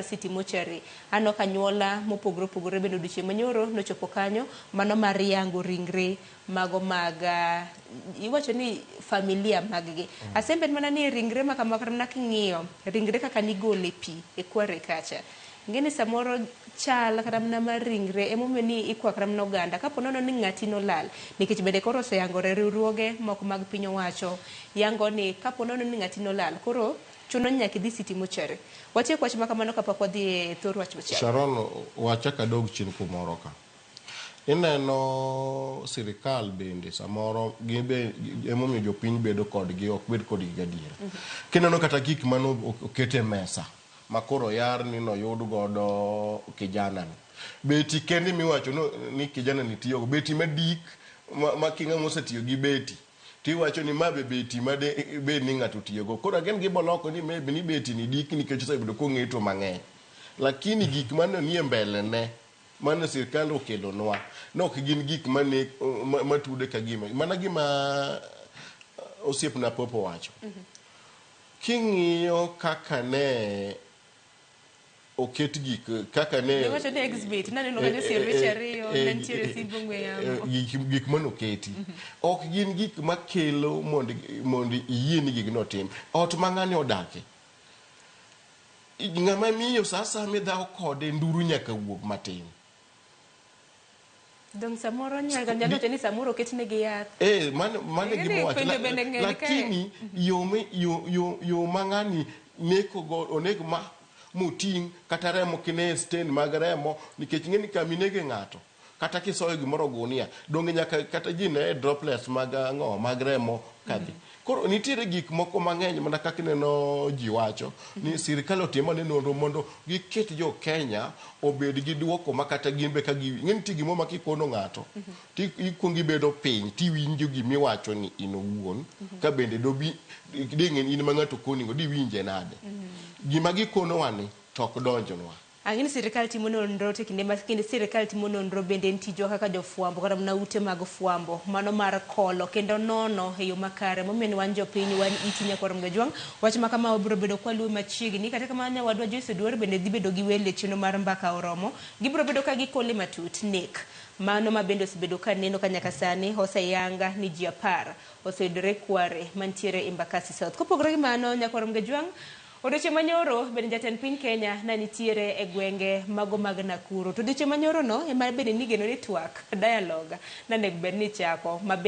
City Mortuary. Aneno ka anyuola mopogore opogore bende odiochieng' manyoro nochopo kanyo mano mar yango ringre mago mag uh, iwacho ni familia maggi. Mm. Asembed mana ni ringre ma kama kata mana king'iyo ringre kaka nigolo e pi e kware kacha. Ngeni samoro chal kata mana mar ringre emomiyo ni ikwa kata mana oganda kapo nono ni ng'ati nolal nikech bende koro oseyangore riwruoge moko mag piny owacho yango ni kapo nono ni ng'ati nolal koro Chuno ni nyaka idhi City Mortuary. Watiek wach makamano kapok wadhi e thor wach machielo. Sharon, we achak adog chien kumoro ka. Ineno sirikal bende samoro gin be emomiyo jopiny bedo kodgi ok bed kodgi gadiera. Kineno kata gik mane oket e mesa ma koro yar ni noyud godo kijana ni. Beti kende miwacho ni kijana ni tiyogo, beti madik ma king'ama osetiyo gi beti. to iwacho ni ma be beti ma de bed ni ng'ato otiyogo. Koro again gibo loko ni maybe ni beti ni diki nikech osebedo kong'eto mang'eny. Lakini gik mane nie mbele ne mane sirkand okelonwa ne ok gin gik mane ma, matude ka gima. Mana gima uh, osiepna Popo wacho. King'iyo kaka ne oket gik kaka ne Giwacho ni exhibit, naneno kanyo siem weche ariyo, eh, ne nitiere eh, simb ong'we yamo. eh, gik- gik manoketi ok gin gik makelo mondo mondo iyie ni gigno otim ot ma ng'ani odake ng'ama miyo sa asaya midhawo kode nduru nyaka wuog matin Dong samoro nyanga nyalo wacho ni samoro oketnegi yath. Eh, mano mano e Ing'e gima ni wacho. penjo bende ng'eny kae. Lakini yo mi- yo- yo- yo ma ng'ani nekogo oneg ma moting' kata remo kine e sten mag remo nikech ing'e ni kama inege ng'ato kata kisoyo gimoro gunia donge nyaka kata ji ne droplets mag ang'o mag remo kadhi Koro nitiere gik moko mang'eny mana kaka ineno ji wacho ni mhm. sirkal otimo ni nonro mondo giket jo Kenya obed gi duoko ma kata gin be ka gi ng'e nitie gimo ma kikono ng'ato mhm. ti ikwongi bedo piny ti winjo gima iwacho ni in owuon mhm. ka bende do bi ding'e in ma ng'ato konigo diwinje nade gima gikonowa ni tok donjnwa Ang'e ni sirkal timo nonro to kinde ma kinde sirkal timo nonro bende en tijwa kaka jofwambo kata mana ute mag fwambo mano mar kolo kendo nono e yo makare momiyo ni wan jopiny wan iti nyaka warom gajwang' wach ma kama wabiro bedo kwa luwe machiegni kata kamano nyawadwa Joyce Oduor bende dhi bedo gi welo e chenro mar mbaka oromo gibiro bedo ka gikole matut nek mano ma bende osebedo ka neno ka nyaka sani oseyang ni ji apar oseyudore kware mantiere Embakasi South kopogore gi mano nyaka warom gajwang' Odiochieng' manyoro bende jatend piny Kenya ne nitiere e gwenge mago mag Nakuru. To odiochieng' manyoro no ema bende nigeno ni twak, dialogue, ne onego bed ni ichako. Ma bende.